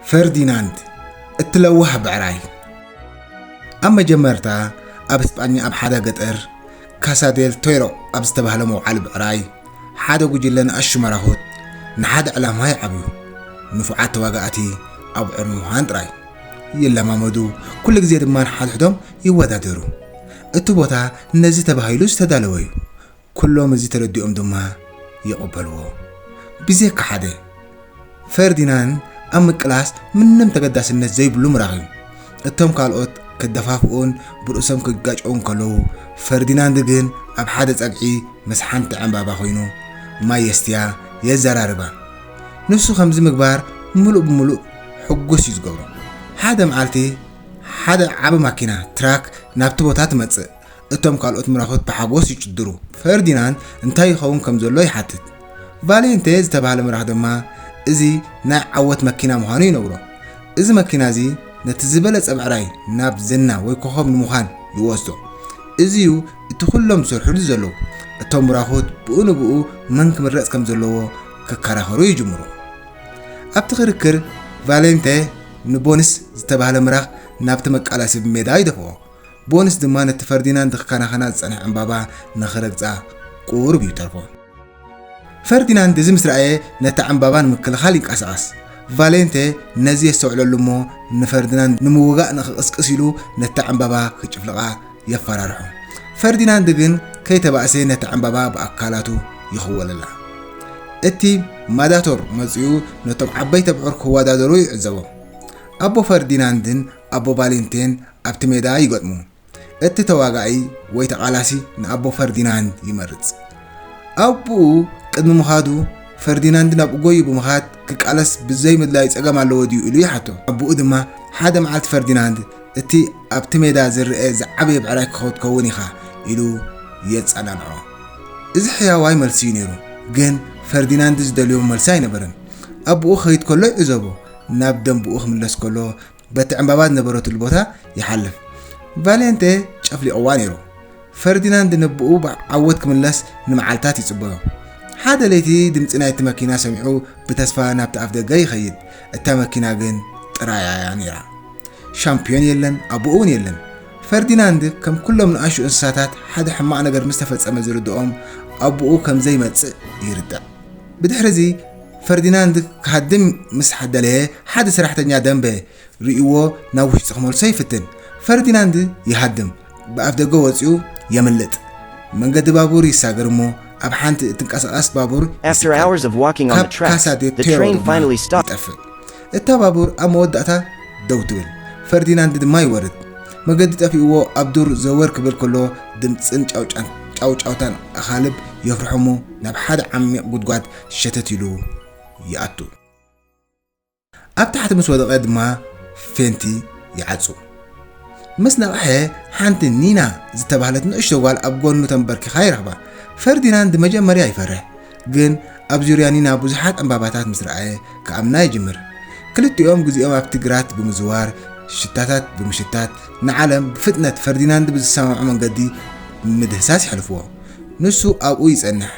ፈርዲናንድ እቲ ለዋህ ብዕራይ ኣብ መጀመርታ ኣብ እስጳኛ ኣብ ሓደ ገጠር ካሳዴል ቶይሮ ኣብ ዝተባህለ መውዓሊ ብዕራይ ሓደ ጉጅለ ንኣሹ መራኹት ንሓደ ዕላማ ይዓብዩ ንፉዓት ተዋጋእቲ ኣብ ዕር ምዃን ጥራይ ይለማመዱ ኩሉ ግዜ ድማ ንሓድሕዶም ይወዳደሩ እቲ ቦታ ነዚ ተባሂሉ ዝተዳለወ እዩ ኩሎም እዚ ተረዲኦም ድማ ይቕበልዎ። ብዜካ ሓደ፣ ፈርዲናን ኣብ ምቅላስ ምንም ተገዳስነት ዘይብሉ ምራኺ። እቶም ካልኦት ከደፋፍኡን ብርእሶም ክጋጨዉን ከለዉ፣ ፈርዲናንድ ግን ኣብ ሓደ ጸግዒ ምስ ሓንቲ ዕምባባ ኮይኑ ማይ የስትያ፣ የዘራርባ። ንሱ ከምዚ ምግባር ምሉእ ብምሉእ ሕጉስ እዩ ዝገብሮ። ሓደ መዓልቲ ሓደ ዓቢ ማኪና፣ ትራክ፣ ናብቲ ቦታ ትመጽእ። እቶም ካልኦት ምራኹት ብሓጎስ ይጭድሩ። ፈርዲናንድ እንታይ ይኸውን ከም ዘሎ ይሓትት። ቫሌንቴ ዝተባህለ ምራኽ ድማ እዚ ናይ ዓወት መኪና ምዃኑ ይነግሮ። እዚ መኪና እዚ ነቲ ዝበለጸ ብዕራይ ናብ ዝና ወይ ኮኾብ ንምዃን ይወስዶ። እዚዩ እቲ ኩሎም ዝሰርሕሉ ዘለዉ። እቶም ምራኹት ብኡ ንብኡ መን ክምረጽ ከም ዘለዎ ክከራኸሩ ይጅምሩ። ኣብቲ ክርክር ቫሌንቴ ንቦንስ ዝተባህለ ምራኽ ናብቲ መቃላሲ ብሜዳ ይደፍኦ። ቦንስ ድማ ነቲ ፈርዲናንድ ክከናኸና ዝጸንሐ ዕምባባ ንኽረግጻ ቁሩብ እዩ ተርፎ። ፈርዲናንድ እዚ ምስ ረኣየ ነታ ዕምባባ ንምክልኻል ይንቀሳቐስ። ቫሌንተ ነዚ የስተውዕለሉ እሞ ንፈርዲናንድ ንምውጋእ ንኽቕስቅስ ኢሉ ነታ ዕምባባ ክጭፍልቓ የፈራርሖ። ፈርዲናንድ ግን ከይተባእሰ ነታ ዕምባባ ብኣካላቱ ይኽወለላ። እቲ ማዳቶር መጺኡ ነቶም ዓበይቲ ኣብዑር ክወዳደሩ ይዕዘቦም። ኣቦ ፈርዲናንድን ኣቦ ቫሌንቴን ኣብቲ ሜዳ ይገጥሙ። እቲ ተዋጋኢ ወይ ተቓላሲ ንኣቦ ፈርዲናንድ ይመርጽ። ኣቡኡ ቅድሚ ምኻዱ ፈርዲናንድ ናብኡ ጎዩ ብምኻድ ክቃለስ ብዘይ ምድላዩ ጸገም ኣለዎ ድዩ ኢሉ ይሓቶ። ኣቡኡ ድማ ሓደ መዓልቲ ፈርዲናንድ እቲ ኣብቲ ሜዳ ዝርኣ ዝዓበየ ብዕራይ ክኸትከውን ኢኻ ኢሉ የጸናንዖ። እዚ ሕያዋይ መልሲ'ዩ ነይሩ። ግን ፈርዲናንድ ዝደልዮ መልሲ ኣይነበረን። ኣቡኡ ክኸይድ ከሎ ይዕዘቦ። ናብ ደንብኡ ክምለስ ከሎ በቲ ዕምባባ ዝነበረትሉ ቦታ ይሓልፍ። ቫሌንቴ ጨፍሊቕዋ ነይሩ። ፈርዲናንድ ንብኡ ብዓወት ክምለስ ንመዓልታት ይጽበዮ። ሓደ ለይቲ ድምጺ ናይቲ መኪና ሰሚዑ ብተስፋ ናብቲ ኣፍደገ ይኸይድ። እታ መኪና ግን ጥራያ እያ ነይራ። ሻምፕዮን የለን፣ ኣቦኡ እውን የለን። ፈርዲናንድ ከም ኩሎም ንኣሹ እንስሳታት ሓደ ሕማቕ ነገር ምስ ተፈጸመ ዝርድኦም ኣቦኡ ከም ዘይመጽእ ይርዳእ። ብድሕሪ እዚ ፈርዲናንድ ክሃድም ምስ ደለየ፣ ሓደ ሰራሕተኛ ደምበ ርእይዎ ናብ ውሽጢ ክመልሶ ይፍትን። ፈርዲናንድ ይሃድም፣ ብኣፍደገ ወጺኡ የምልጥ። መንገዲ ባቡር ይሳገር እሞ ኣብ ሓንቲ እትንቀሳቐስ ባቡር ይስቀል። ካብ ካሳ ዴ ፔሮ ድማ ይጠፍእ። እታ ባቡር ኣብ መወዳእታ ደው ትብል፣ ፈርዲናንድ ድማ ይወርድ። መገዲ ጠፊእዎ ኣብ ዱር ዘወር ክብል ከሎ ድምጽን ጫውጫውታን ኣኻልብ የፍርሖ'ሞ ናብ ሓደ ዓሚቕ ጉድጓድ ሸተት ኢሉ ይኣቱ። ኣብ ታሕቲ ምስ ወደቐ ድማ ፌንቲ ይዓጹ። ምስ ነቕሐ ሓንቲ ኒና ዝተባህለት ንእሽቶ ጓል ኣብ ጎኑ ተንበርኪኻ ይረኽባ። ፈርዲናንድ መጀመርያ ይፈርሕ፣ ግን ኣብ ዙርያ ኒና ብዙሓት ዕምባባታት ምስ ረኣየ ክኣምና ይጅምር። ክልቲኦም ግዜኦም ኣብቲ ግራት ብምዝዋር ሽታታት ብምሽታት ንዓለም ብፍጥነት ፈርዲናንድ ብዝሰማምዖ መንገዲ ብምድህሳስ የሕልፍዎ። ንሱ ኣብኡ ይጸንሕ።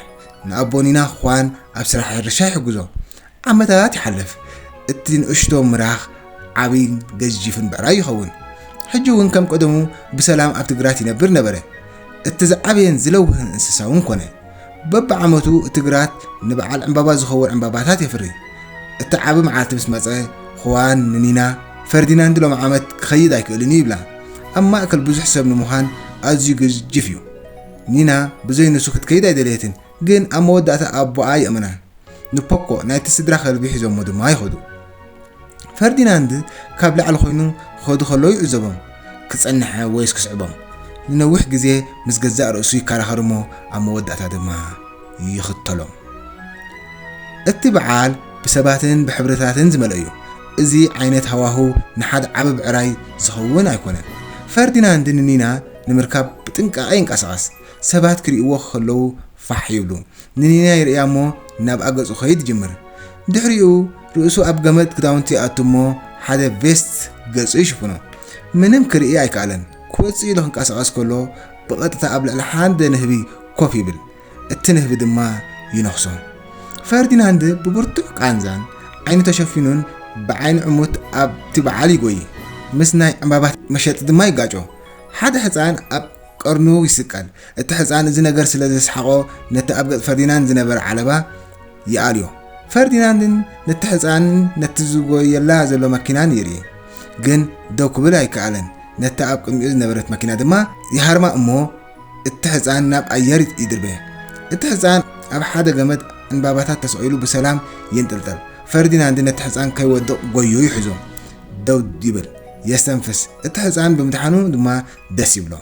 ንኣቦኒና ኽዋን ኣብ ስራሕ ሕርሻ ይሕግዞ። ዓመታት ይሓልፍ። እቲ ንእሽቶ ምራኽ ዓብይን ገዚፍን ብዕራይ ይኸውን። ሕጂ እውን ከም ቀደሙ ብሰላም ኣብቲ ግራት ይነብር ነበረ። እቲ ዝዓበየን ዝለውህን እንስሳ እውን ኮነ። በብዓመቱ እቲ ግራት ንበዓል ዕምባባ ዝኸውን ዕምባባታት የፍሪ። እቲ ዓቢ መዓልቲ ምስ መጸ፣ ኽዋን ንኒና፣ ፈርዲናንድ ሎሚ ዓመት ክኸይድ ኣይክእልን እዩ ይብላ። ኣብ ማእከል ብዙሕ ሰብ ንምዃን ኣዝዩ ገዚፍ እዩ። ኒና ብዘይ ንሱ ክትከይድ ኣይደለየትን፣ ግን ኣብ መወዳእታ ኣቦኣ የእምና። ንፖኮ ናይቲ ስድራ ከልቢ ሒዞሞ ድማ ይኸዱ። ፈርዲናንድ ካብ ላዕሊ ኮይኑ ክኸዱ ከለዉ ይዕዘቦም። ክጸንሐ ወይስ ክስዕቦም? ንነዊሕ ግዜ ምስ ገዛእ ርእሱ ይከራኸር እሞ ኣብ መወዳእታ ድማ ይኽተሎም። እቲ በዓል ብሰባትን ብሕብርታትን ዝመልኦ እዩ። እዚ ዓይነት ሃዋህው ንሓደ ዓቢ ብዕራይ ዝኸውን ኣይኮነን። ፈርዲናንድ ንኒና ንምርካብ ብጥንቃቐ ይንቀሳቐስ። ሰባት ክርእይዎ ከለዉ ፋሕ ይብሉ። ንኒና ይርእያ እሞ ናብኣ ገጹ ክኸይድ ይጅምር። ድሕሪኡ ርእሱ ኣብ ገመድ ክዳውንቲ ይኣቱ እሞ ሓደ ቬስት ገጹ ይሽፍኖ። ምንም ክርኢ ኣይከኣለን። ክወጽእ ኢሉ ክንቀሳቐስ ከሎ ብቐጥታ ኣብ ልዕሊ ሓደ ንህቢ ኮፍ ይብል። እቲ ንህቢ ድማ ይነኽሶ። ፈርዲናንድ ብብርቱዕ ቃንዛን ዓይኑ ተሸፊኑን ብዓይኒ ዕሙት ኣብቲ በዓል ይጎዪ። ምስ ናይ ዕምባባ መሸጢ ድማ ይጋጮ። ሓደ ሕጻን ኣብ ቀርኑ ይስቀል። እቲ ሕጻን እዚ ነገር ስለ ዘስሓቖ ነቲ ኣብ ገጽ ፈርዲናንድ ዝነበረ ዓለባ ይኣልዮ። ፈርዲናንድን ነቲ ሕጻንን ነቲ ዝጎየላ ዘሎ መኪናን ይርኢ። ግን ደው ክብል ኣይከኣለን። ነታ ኣብ ቅድሚኡ ዝነበረት መኪና ድማ ይሃርማ እሞ እቲ ሕጻን ናብ ኣየር ይድርበ። እቲ ሕጻን ኣብ ሓደ ገመድ ዕንባባታት ተሰቒሉ ብሰላም ይንጥልጠል። ፈርዲናንድ ነቲ ሕጻን ከይወድቕ ጎዩ ይሕዞ ደው ይብል። የስተንፍስ እቲ ሕጻን ብምድሓኑ ድማ ደስ ይብሎ።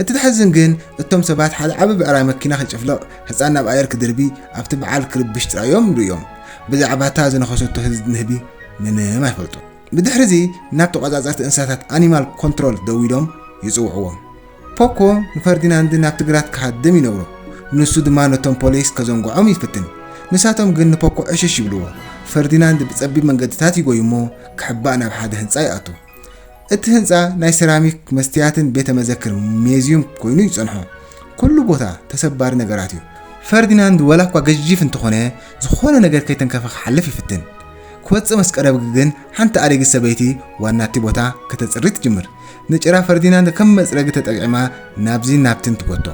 እቲ ዘሕዝን ግን እቶም ሰባት ሓደ ዓቢ ብዕራይ መኪና ክጭፍልቕ ህጻን ናብ ኣየር ክድርቢ ኣብቲ በዓል ክርብሽ ጥራዮም ርእዮም ብዛዕባታ ዝነኸሰቶ ህዝቢ ንህቢ ምንም ኣይፈልጡን። ብድሕሪዚ ናብ ተቖጻጸርቲ እንስሳታት ኣኒማል ኮንትሮል ደዊሎም ይጽውዕዎም። ፖኮ ንፈርዲናንድ ናብቲ ግራት ክሃድም ይነግሮ፣ ንሱ ድማ ነቶም ፖሊስ ከዘንግዖም ይፍትን፣ ንሳቶም ግን ንፖኮ ዕሽሽ ይብልዎ። ፈርዲናንድ ብጸቢብ መንገድታት ይጎይ እሞ ክሕባእ ናብ ሓደ ህንጻ ይኣቱ። እቲ ህንጻ ናይ ሰራሚክ፣ መስትያትን ቤተ መዘክር፣ ሜዝዩም፣ ኮይኑ ይጸንሖ። ኩሉ ቦታ ተሰባሪ ነገራት እዩ። ፈርዲናንድ ወላ እኳ ገዢፍ እንተኾነ ዝኾነ ነገር ከይተንከፈ ክሓልፍ ይፍትን። ክወጽእ ምስ ቀረብ ግን ሓንቲ ኣረጊት ሰበይቲ ዋናቲ ቦታ ከተጽሪ ትጅምር። ንጭራ ፈርዲናንድ ከም መጽረጊ ተጠቂዕማ ናብዚን ናብቲን ትጎቶ።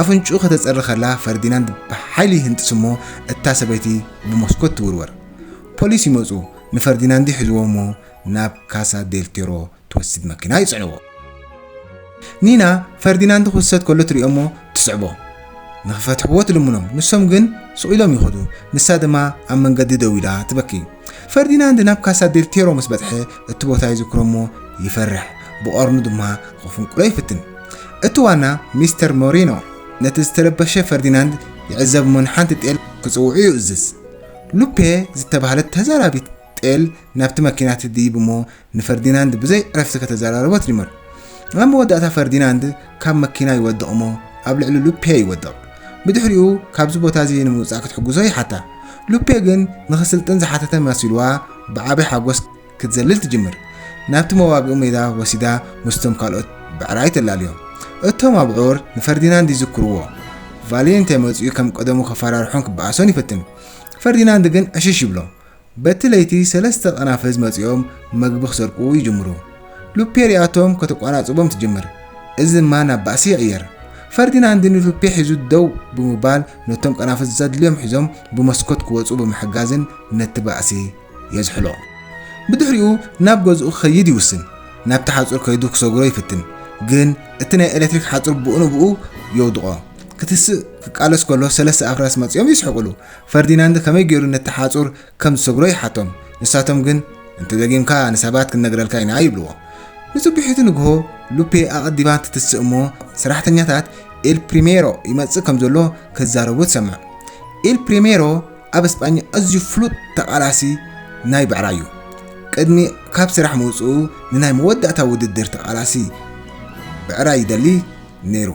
ኣፍንጭኡ ከተጽሪ ከላ ፈርዲናንድ ብሓይሊ ይህንጥስ እሞ እታ ሰበይቲ ብመስኮት ትውርወር። ፖሊስ ይመጹ ንፈርዲናንድ ይሕዝዎ እሞ ናብ ካሳ ዴል ቴሮ ትወስድ መኪና ይጽዕንዎ። ኒና ፈርዲናንድ ክውሰድ ከሎ ትሪኦ እሞ ትስዕቦ። ንኽፈትሕዎ ትልምኖም፣ ንሶም ግን ስቕ ኢሎም ይኸዱ፣ ንሳ ድማ ኣብ መንገዲ ደው ኢላ ትበኪ። ፈርዲናንድ ናብ ካሳ ዴል ቴሮ ምስ በጽሐ እቲ ቦታ ይዝክሮ'ሞ ይፈርሕ፣ ብቐርኑ ድማ ክፍንቁሎ ይፍትን። እቲ ዋና ሚስተር ሞሪኖ ነቲ ዝተረበሸ ፈርዲናንድ ይዕዘብ'ሞ ንሓንቲ ጤል ክጽውዑ ይእዝዝ። ሉፔ ዝተባህለት ተዛራቢት ጤል ናብቲ መኪና ትድይብ እሞ ንፈርዲናንድ ብዘይ ዕረፍቲ ከተዘራርቦ ትጅምር። ኣብ መወዳእታ ፈርዲናንድ ካብ መኪና ይወድቕ እሞ ኣብ ልዕሊ ሉፔ ይወድቕ። ብድሕሪኡ ካብዚ ቦታ እዚ ንምውጻእ ክትሕግዞ ይሓታ። ሉፔ ግን ንኽስልጥን ዝሓተተ መሲሉዋ ብዓቢ ሓጎስ ክትዘልል ትጅምር። ናብቲ መዋግኢ ሜዳ ወሲዳ ምስቶም ካልኦት ብዕራይ ተላልዮም። እቶም ኣብዑር ንፈርዲናንድ ይዝክርዎ። ቫሊየንቴ መጺኡ ከም ቀደሙ ከፈራርሖን ክበኣሶን ይፍትን። ፈርዲናንድ ግን ዕሽሽ ይብሎ። በቲ ለይቲ ሰለስተ ቐናፍዝ መጺኦም መግቢ ክሰርቁ ይጅምሩ። ሉፔ ሪኣቶም ከተቋናጽቦም ትጅምር፣ እዚ ድማ ናብ ባእሲ ይቕየር። ፈርዲናንድ ንሉፔ ሒዙ ደው ብምባል ነቶም ቐናፍዝ ዘድልዮም ሒዞም ብመስኮት ክወጹ ብምሕጋዝን ነቲ ባእሲ የዝሕሎ። ብድሕሪኡ ናብ ገዝኡ ክኸይድ ይውስን። ናብቲ ሓጹር ከይዱ ክሰግሮ ይፍትን፣ ግን እቲ ናይ ኤለትሪክ ሓጹር ብኡንብኡ የውድቖ። ክትስእ ክቃለስ ከሎ ሰለስተ ኣፍራስ መጺኦም ይስሕቕሉ፣ ፈርዲናንድ ከመይ ገይሩ ነቲ ሓጹር ከም ዝሰብሮ ይሓቶም፣ ንሳቶም ግን እንተ ደጊምካ ንሰባት ክንነግረልካ ኢና ይብልዎ። ንጽቡሒቱ ንግሆ ሉፔ ኣቐዲማ ትትስእ እሞ ሰራሕተኛታት ኤል ፕሪሜሮ ይመጽእ ከም ዘሎ ክዛረቡ ትሰምዕ። ኤል ፕሪሜሮ ኣብ እስጳኛ ኣዝዩ ፍሉጥ ተቓላሲ ናይ ብዕራይ'ዩ። ቅድሚ ካብ ስራሕ ምውጽኡ ንናይ መወዳእታ ውድድር ተቓላሲ ብዕራይ ይደሊ ነይሩ።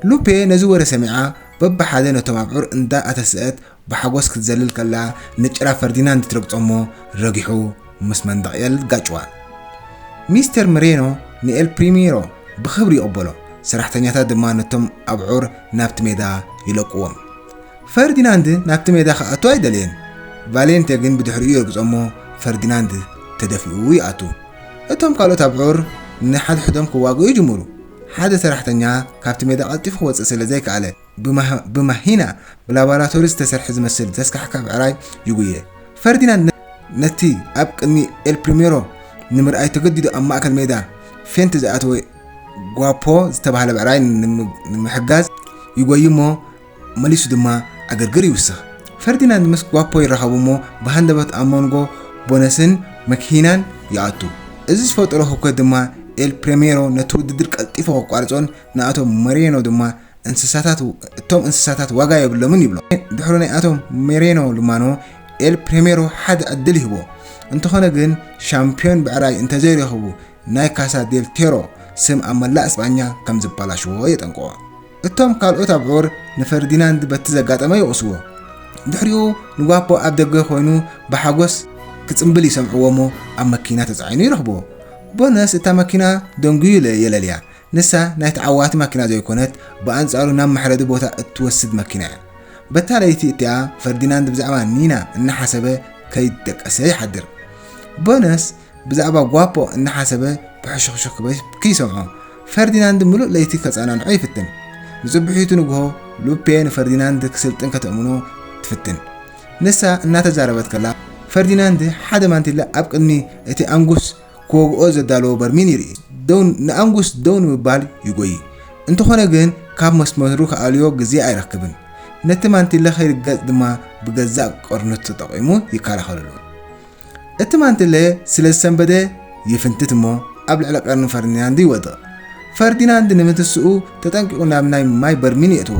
ሉፔ ነዚ ወረ ሰሚዓ በብሓደ ነቶም ኣብዑር እንዳ ኣተሰእት ብሓጎስ ክትዘልል ከላ ንጭራ ፈርዲናንድ ትረግጾ'ሞ ረጊሑ ምስ መንደቕ ኤል ጋጭዋ። ሚስተር ምሬኖ ንኤል ፕሪሚሮ ብኽብሪ ይቕበሎ፣ ሰራሕተኛታት ድማ ነቶም ኣብዑር ናብቲ ሜዳ ይለቁዎም። ፈርዲናንድ ናብቲ ሜዳ ክኣቱ ኣይደለየን፣ ቫሌንቴ ግን ብድሕሪኡ ይረግጾ'ሞ ፈርዲናንድ ተደፊኡ ይኣቱ። እቶም ካልኦት ኣብዑር ንሓድሕዶም ክዋግኡ ይጅምሩ። ሓደ ሰራሕተኛ ካብቲ ሜዳ ቀልጢፉ ክወጽእ ስለ ዘይከኣለ፣ ብማሂና ብላቦራቶሪ ዝተሰርሐ ዝመስል ዘስካሕክሕ ብዕራይ ይጉየ። ፈርዲናንድ ነቲ ኣብ ቅድሚ ኤል ፕሪሜሮ ንምርኣይ ተገዲዱ ኣብ ማእከል ሜዳ ፌንት ዝኣተወ ጓፖ ዝተባህለ ብዕራይ ንምሕጋዝ ይጎይ'ሞ፣ መሊሱ ድማ ዕግርግር ይውስኽ። ፈርዲናንድ ምስ ጓፖ ይራኸቡ እሞ ብሃንደበት ኣብ መንጎ ቦነስን መክሂናን ይኣቱ። እዚ ዝፈጠሮ ህውከት ድማ ኤል ፕሬሜሮ ነቲ ውድድር ቀልጢፉ ከቋርጾን ንኣቶ ሞሬኖ ድማ እንስሳታት እቶም እንስሳታት ዋጋ የብሎምን ይብሎ። ድሕሩ ናይ ኣቶ ሞሬኖ ልማኖ ኤል ፕሬሜሮ ሓደ ዕድል ይህቦ። እንተኾነ ግን ሻምፕዮን ብዕራይ እንተዘይረኺቡ ናይ ካሳ ዴል ቴሮ ስም ኣብ መላእ ስጳኛ ከምዝባላሽዎ የጠንቅቖ። እቶም ካልኦት ኣብዑር ንፈርዲናንድ በቲ ዘጋጠመ ይወቕስዎ። ድሕሪኡ ንጓኮ ኣብ ደገ ኰይኑ ብሓጐስ ክጽምብል ይሰምዕዎ'ሞ ኣብ መኪና ተጻዒኑ ይረኽብዎ። ቦነስ እታ መኪና ደንጕዩ የለልያ። ንሳ ናይ ተዓዋቲ መኪና ዘይኰነት፣ ብኣንጻሩ ናብ መሕረዲ ቦታ እትወስድ መኪና እያ። በታ ለይቲ እቲኣ ፈርዲናንድ ብዛዕባ ኒና እናሓሰበ ከይደቀሰ ይሓድር። ቦነስ ብዛዕባ ጓፖ እናሓሰበ ብሕሹኽሹኽ ክብል ክይሰምዖ፣ ፈርዲናንድ ምሉእ ለይቲ ከጸናንዖ ይፍትን። ንጽብሒቱ ንግሆ፣ ሉፔ ንፈርዲናንድ ክስልጥን ከተእምኖ ትፍትን። ንሳ እናተዛረበት ከላ፣ ፈርዲናንድ ሓደ ማንቲለ ኣብ ቅድሚ እቲ ኣንጉስ ክወግኦ ዘዳለዎ በርሚን ይርኢ። ደው ንኣንጉስ ደው ንምባል ይጎዪ፣ እንተኾነ ግን ካብ መስመሩ ክኣልዮ ግዜ ኣይረክብን። ነቲ ማንቲለ ከይርገጽ ድማ ብገዛእ ቀርኑ ተጠቒሙ ይከላኸለሉ። እቲ ማንትለ ስለ ዝሰንበደ ይፍንትት እሞ ኣብ ልዕሊ ቀርኒ ፈርዲናንድ ይወድቕ። ፈርዲናንድ ንምትስኡ ተጠንቂቑ ናብ ናይ ማይ በርሚል የእትዎ።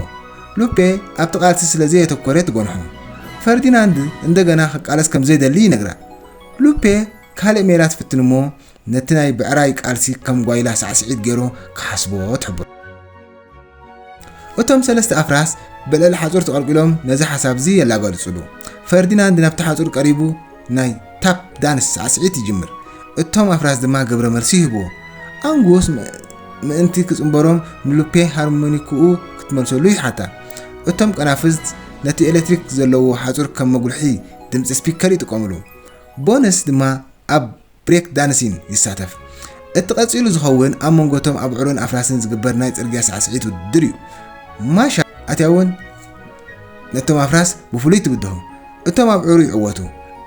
ሉፔ ኣብቲ ቃልሲ ስለ ዘየተኮረ ትጎንሖ። ፈርዲናንድ እንደገና ክቃለስ ከም ዘይደሊ ይነግራ። ሉፔ ካልእ ሜላ ትፍትን እሞ ነቲ ናይ ብዕራይ ቃልሲ ከም ጓይላ ሳዕስዒት ገይሩ ክሓስቦ ትሕብሮ። እቶም ሰለስተ ኣፍራስ ብልዕሊ ሓጹር ተቐልቂሎም ነዚ ሓሳብ'ዚ የላጋልጹሉ። ፈርዲናንድ ናብቲ ሓጹር ቀሪቡ ናይ ታፕ ዳንስ ሳዕስዒት ይጅምር። እቶም ኣፍራስ ድማ ግብረ መልሲ ይህብዎ። ኣንጉስ ምእንቲ ክጽንበሮም ንሉፔ ሃርሞኒክኡ ክትመልሰሉ ይሓታ። እቶም ቀናፍዝት ነቲ ኤሌክትሪክ ዘለዎ ሓጹር ከም መጉልሒ ድምጺ ስፒከር ይጥቀሙሉ። ቦንስ ድማ ኣብ ብሬክ ዳንሲን ይሳተፍ። እቲ ቀጺሉ ዝኸውን ኣብ መንጎ እቶም ኣብዑርን ኣፍራስን ዝግበር ናይ ጽርግያ ሳዕስዒት ውድድር እዩ። ማሻ ኣትያ እውን ነቶም ኣፍራስ ብፍሉይ ትብድሆም። እቶም ኣብዑሩ ይዕወቱ።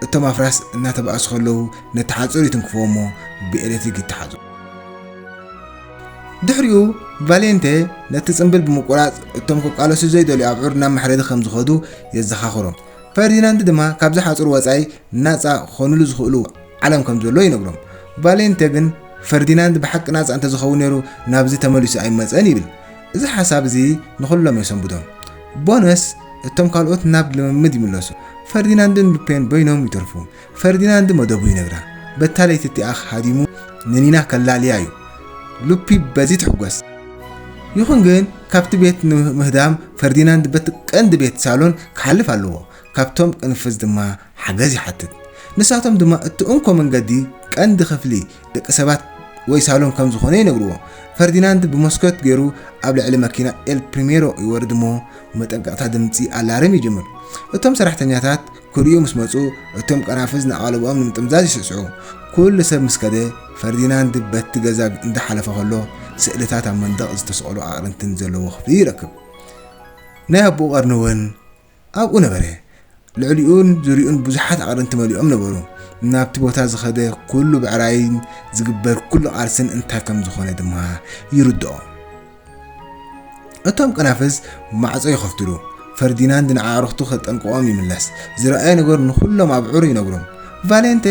እቶም ኣፍራስ እናተባእሱ ከለዉ ነቲ ሓጹር ይትንክፍዎ እሞ ብኤሌክትሪክ ይተሓዙ። ድሕሪኡ ቫሌንተ ነቲ ጽምብል ብምቁራጽ እቶም ክቃለሱ ዘይደልዩ ኣብዑር ናብ መሕረዲ ከም ዝኸዱ የዘኻኽሮም። ፈርዲናንድ ድማ ካብዚ ሓጹር ወጻኢ ናጻ ክኾኑሉ ዝኽእሉ ዓለም ከም ዘሎ ይነግሮም። ቫሌንተ ግን ፈርዲናንድ ብሓቂ ናጻ እንተ ዝኸውን ነይሩ ናብዚ ተመሊሱ ኣይምመጸን ይብል። እዚ ሓሳብ እዚ ንኹሎም የሰንብዶም። ቦነስ እቶም ካልኦት ናብ ልምምድ ይምለሱ። ፈርዲናንድን ሉፔን በይኖም ይተርፉ። ፈርዲናንድ መደቡ ይነግራ። በታ ለይቲ እቲኣ ሃዲሙ ንኒና ከላልያ እዩ። ሉፒ በዚ ትሕጎስ። ይኹን ግን ካብቲ ቤት ንምህዳም ፈርዲናንድ በቲ ቀንዲ ቤት ሳሎን ክሓልፍ ኣለዎ። ካብቶም ቅንፍዝ ድማ ሓገዝ ይሓትት። ንሳቶም ድማ እቲ እንኮ መንገዲ ቀንዲ ክፍሊ ደቂ ሰባት ወይ ሳሎን ከም ዝኾነ ይነግርዎ። ፈርዲናንድ ብመስኮት ገይሩ ኣብ ልዕሊ መኪና ኤል ፕሪሜሮ ይወርድ እሞ መጠንቀቕታ ድምጺ ኣላርም ይጅምር። እቶም ሰራሕተኛታት ክርእዩ ምስ መጹ እቶም ቀናፍዝ ንኣቓልቦኦም ንምጥምዛዝ ይስዕስዑ። ኩሉ ሰብ ምስ ከደ ፈርዲናንድ በቲ ገዛ እንዳሓለፈ ከሎ ስእልታት ኣብ መንደቕ ዝተሰቕሉ ኣቕርንትን ዘለዎ ክፍሊ ይረክብ። ናይ ኣቦኡ ቀርኒ እውን ኣብኡ ነበረ። ልዕሊኡን ዙርይኡን ብዙሓት ኣቕርንቲ መሊኦም ነበሩ። ናብቲ ቦታ ዝኸደ ኩሉ ብዕራይን ዝግበር ኩሉ ቃልስን እንታይ ከም ዝኾነ ድማ ይርድኦ። እቶም ቀናፍዝ ማዕጾ ይኸፍትሉ። ፈርዲናንድ ንኣዕርኽቱ ከጠንቅቖም ይምለስ። ዝረኣየ ነገር ንኹሎም ኣብዕሩ ይነግሮም። ቫሌንቴ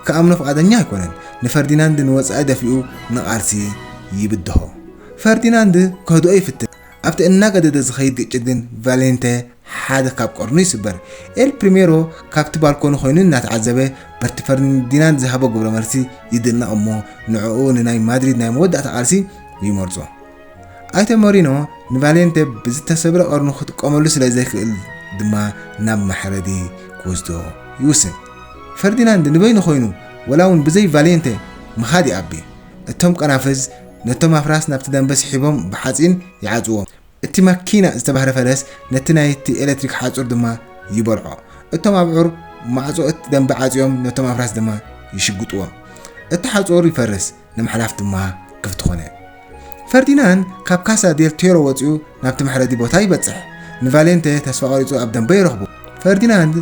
ክኣምኖ ፍቓደኛ ኣይኮነን። ንፈርዲናንድ ንወጻኢ ደፊኡ ንቓልሲ ይብድሆ። ፈርዲናንድ ከህድኦ ይፍትን። ኣብቲ እናገደደ ዝኸይድ ግጭት ግን ቫሌንተ ሓደ ካብ ቀርኑ ይስበር። ኤል ፕሪሜሮ ካብቲ ባልኮኒ ኮይኑ እናተዓዘበ በርቲ ፈርዲናንድ ዝሃቦ ግብረ መልሲ ይድነቕ እሞ ንዕኡ ንናይ ማድሪድ ናይ መወዳእታ ቃልሲ ይመርጾ። ኣይተ ሞሪኖ ንቫሌንተ ብዝተሰብረ ቀርኑ ክጥቀመሉ ስለ ዘይክእል ድማ ናብ መሕረዲ ክወስዶ ይውስን። ፈርዲናንድ ንበይኑ ኮይኑ ወላ እውን ብዘይ ቫሌንተ ምኻድ ይኣቢ። እቶም ቀናፍዝ ነቶም ኣፍራስ ናብቲ ደምበ ስሒቦም ብሓጺን ይዓጽዎም። እቲ ማኪና ዝተባህረ ፈረስ ነቲ ናይቲ ኤለትሪክ ሓጹር ድማ ይበልዖ። እቶም ኣብዑር ማዕጾ እቲ ደምበ ዓጽዮም ነቶም ኣፍራስ ድማ ይሽግጥዎም። እቲ ሓጹር ይፈርስ፣ ንምሕላፍ ድማ ክፍቲ ኮነ። ፈርዲናንድ ካብ ካሳ ዴል ቴሮ ወጺኡ ናብቲ መሕረዲ ቦታ ይበጽሕ። ንቫሌንተ ተስፋ ቀሪጹ ኣብ ደምበ ይረኽቦ። ፈርዲናንድ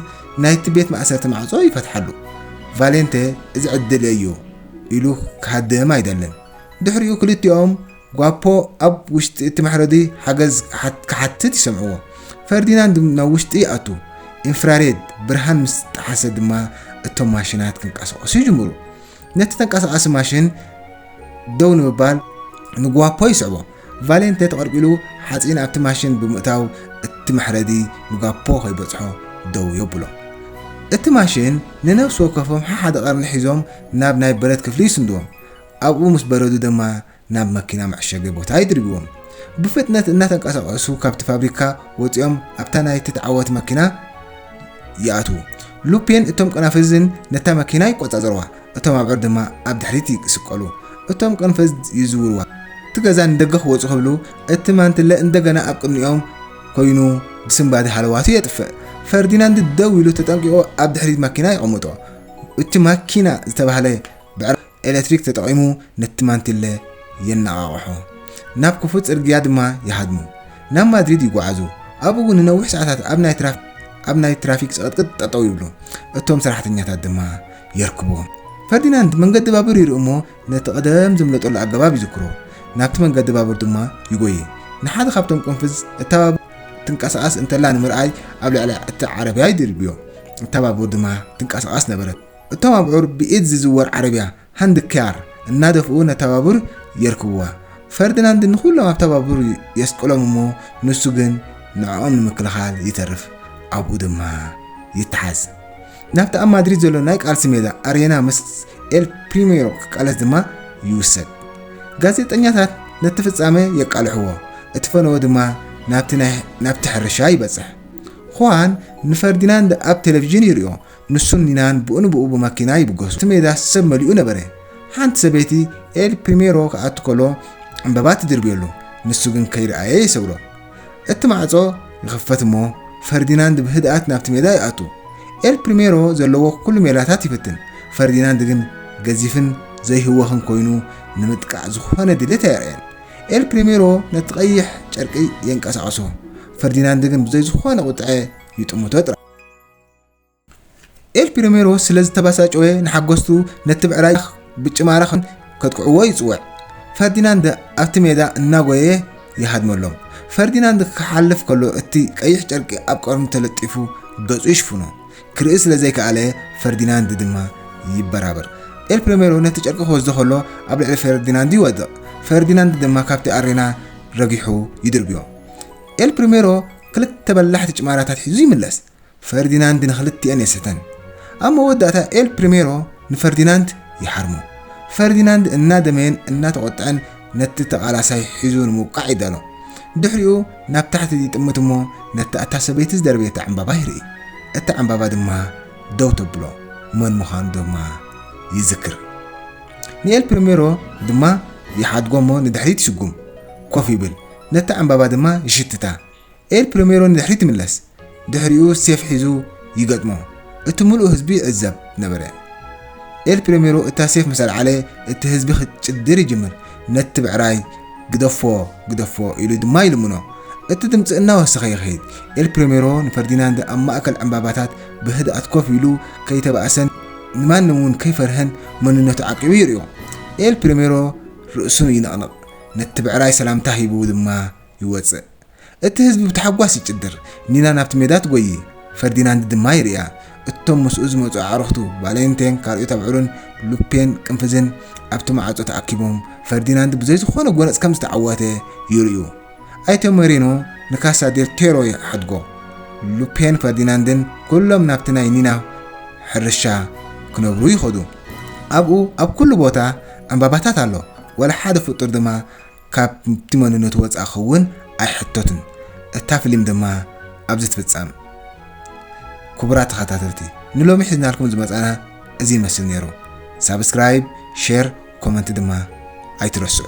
ናይቲ ቤት ማእሰርቲ ማዕጾ ይፈትሓሉ። ቫሌንተ እዚ ዕድል እየ እዩ ኢሉ ክሃድም ኣይደልን። ድሕሪኡ ክልቲኦም ጓፖ ኣብ ውሽጢ እቲ መሕረዲ ሓገዝ ክሓትት ይሰምዕዎ። ፈርዲናንድ ናብ ውሽጢ ይኣቱ፣ ኢንፍራሬድ ብርሃን ምስ ጠሓሰ ድማ እቶም ማሽናት ክንቀሳቐሱ ይጅምሩ። ነቲ ተንቀሳቓሲ ማሽን ደው ንምባል ንጓፖ ይስዕቦ። ቫሌንተ ተቐርቂሉ ሓጺን ኣብቲ ማሽን ብምእታው እቲ መሕረዲ ንጋፖ ከይበጽሖ ደው የብሎ። እቲ ማሽን ንነፍሲ ወከፎም ሓሓደ ቀርኒ ሒዞም ናብ ናይ ብረት ክፍሊ ይስንድዎም። ኣብኡ ምስ በረዱ ድማ ናብ መኪና መዕሸጊ ቦታ ይድርብዎም። ብፍጥነት እናተንቀሳቐሱ ካብቲ ፋብሪካ ወጺኦም ኣብታ ናይቲ ተዓዋቲ መኪና ይኣትዉ። ሉፔን እቶም ቀናፍዝን ነታ መኪና ይቆጻጸርዋ። እቶም ኣብዑር ድማ ኣብ ድሕሪት ይስቀሉ፣ እቶም ቅርንፍዝ ይዝውርዋ። እቲ ገዛ ንደገ ክወጹ ክብሉ እቲ ማንትለ እንደገና ኣብ ቅድሚኦም ኮይኑ ብስንባደ ሃለዋቱ የጥፍእ። ፈርዲናንድ ደው ኢሉ ተጠንቂቑ ኣብ ድሕሪት ማኪና የቐምጦ። እቲ ማኪና ዝተባህለ ብዕራይ ኤለትሪክ ተጠቒሙ ነቲ ማንትለ የነቓቕሖ። ናብ ክፉት ጽርግያ ድማ ይሃድሙ። ናብ ማድሪድ ይጓዓዙ። ኣብኡ እውን ንነዊሕ ሰዓታት ኣብ ናይ ትራፊክ ጽቕጥቅጥ ጠጠው ይብሉ። እቶም ሰራሕተኛታት ድማ የርክቦ። ፈርዲናንድ መንገዲ ባቡር ይርኢ እሞ ነቲ ቐደም ዝምለጠሉ ኣገባብ ይዝክሮ። ናብቲ መንገዲ ባቡር ድማ ይጎዪ። ንሓደ ካብቶም ቅንፍዝ እታ ባቡር ትንቀሳቐስ እንተላ ንምርኣይ ኣብ ልዕሊ እቲ ዓረብያ ይድርብዮ። እታ ባቡር ድማ ትንቀሳቐስ ነበረት። እቶም ኣብዑር ብኢድ ዝዝወር ዓረብያ፣ ሃንድ ክያር፣ እናደፍኡ ነታ ባቡር የርክብዋ። ፈርዲናንድ ንኹሎም ኣብታ ባቡር የስቅሎም እሞ ንሱ ግን ንዕኦም ንምክልኻል ይተርፍ። ኣብኡ ድማ ይተሓዝ። ናብቲ ኣብ ማድሪድ ዘሎ ናይ ቃልሲ ሜዳ ኣሬና ምስ ኤል ፕሪሜሮ ክቃለስ ድማ ይውሰድ። ጋዜጠኛታት ነቲ ፍጻመ የቃልሕዎ፣ እቲ ፈነወ ድማ ናብቲ ሕርሻ ይበጽሕ። ኹዋን ንፈርዲናንድ ኣብ ቴሌቪዥን ይሪኦ፣ ንሱን ኒናን ብኡ ንብኡ ብመኪና ይብገሱ። እቲ ሜዳ ሰብ መሊኡ ነበረ። ሓንቲ ሰበይቲ ኤል ፕሪሜሮ ክኣቱ ከሎ ዕምበባ ትድርብየሉ፣ ንሱ ግን ከይርኣየ ይሰግሮ። እቲ ማዕጾ ይኽፈት እሞ ፈርዲናንድ ብህድኣት ናብቲ ሜዳ ይኣቱ። ኤል ፕሪሜሮ ዘለዎ ኩሉ ሜላታት ይፍትን፣ ፈርዲናንድ ግን ገዚፍን ዘይህወኽን ኮይኑ ንምጥቃዕ ዝኾነ ድሌት ኣየርእየን። ኤል ፕሪሜሮ ነቲ ቀይሕ ጨርቂ የንቀሳቕሶ፣ ፈርዲናንድ ግን ብዘይ ዝኾነ ቁጥዐ ይጥምቶ ጥራይ። ኤል ፒሪሜሮ ስለ ዝተበሳጨወ ንሓጎስቱ ነቲ ብዕራይ ብጭማራ ከጥቅዕዎ ይጽውዕ። ፈርዲናንድ ኣብቲ ሜዳ እናጎየ ይሃድመሎም። ፈርዲናንድ ክሓልፍ ከሎ እቲ ቀይሕ ጨርቂ ኣብ ቀርኑ ተለጢፉ ገጹ ይሽፍኖ። ክርኢ ስለ ዘይከኣለ ፈርዲናንድ ድማ ይበራበር። ኤል ፕሪሜሮ ነቲ ጨርቂ ክወስዶ ከሎ ኣብ ልዕሊ ፈርዲናንድ ይወድቕ። ፈርዲናንድ ድማ ካብቲ ኣሬና ረጊሑ ይድርብዮ። ኤል ፕሪሜሮ ክልተ በላሕቲ ጭማራታት ሒዙ ይምለስ። ፈርዲናንድ ንኽልቲኤን የስተን። ኣብ መወዳእታ ኤል ፕሪሜሮ ንፈርዲናንድ ይሓርሞ። ፈርዲናንድ እናደመየን እናተቖጥዐን ነቲ ተቓላሳይ ሒዙ ንምውቃዕ ይዳሎ። ድሕሪኡ ናብ ታሕቲ ይጥምት እሞ ነታ እታ ሰበይቲ ዝደርበየታ ዕምባባ ይርኢ። እታ ዕምባባ ድማ ደው ተብሎ። መን ምዃኑ ድማ ይዝክር። ንኤል ፕሪሜሮ ድማ ይሓድጎ እሞ ንድሕሪት ይስጉም። ኮፍ ይብል። ነታ ዕምባባ ድማ ይሽትታ። ኤል ፕሪሜሮ ንድሕሪት ይምለስ፣ ድሕሪኡ ሴፍ ሒዙ ይገጥሞ፣ እቲ ምሉእ ህዝቢ ይዕዘብ ነበረ። ኤል ፕሪሜሮ እታ ሴፍ ምስ ኣልዓለ እቲ ህዝቢ ክጭድር ይጅምር፣ ነቲ ብዕራይ ግደፎ ግደፎ ኢሉ ድማ ይልምኖ። እቲ ድምጺ እናወሰኸ ይኸይድ፣ ኤል ፕሪሜሮ ንፈርዲናንድ ኣብ ማእከል ዕምባባታት ብህድኣት ኮፍ ኢሉ ከይተባእሰን ንማንም እውን ከይፈርሀን መንነቱ ዓቂቡ ይርእዮ። ኤል ፕሪሜሮ ርእሱ ይንቕንቕ፣ ነቲ ብዕራይ ሰላምታ ሂቡ ድማ ይወጽእ። እቲ ህዝቢ ብታሕጓስ ይጭድር፣ ኒና ናብቲ ሜዳ ትጎዪ፣ ፈርዲናንድ ድማ ይርእያ። እቶም ምስኡ ዝመጹ ኣዕሩኽቱ፣ ቫለንቴን፣ ካልኦት ኣብዑርን፣ ሉፔን፣ ቅንፍዝን፣ ኣብቲ መዓጾ ተኣኪቦም፣ ፈርዲናንድ ብዘይ ዝኾነ ጎነጽ ከም ዝተዓወተ ይርእዩ። ኣይተ ሞሬኖ ንካሳ ዴል ቴሮ ይሓድጎ። ሉፔን፣ ፈርዲናንድን ኩሎም ናብቲ ናይ ኒና ሕርሻ ክነብሩ ይኸዱ። ኣብኡ ኣብ ኩሉ ቦታ ዕምባባታት ኣሎ፣ ዋላ ሓደ ፍጡር ድማ ካብቲ መንነቱ ወጻኢ ክኸውን ኣይሕተቱን። እታ ፍሊም ድማ ኣብዚ ትፍጸም። ኩቡራት ተኸታተልቲ ንሎሚ ሒዝናልኩም ዝመጻና እዚ ይመስል ኔሩ። ሳብስክራይብ ሼር ኮመንት ድማ ኣይትረስዑ።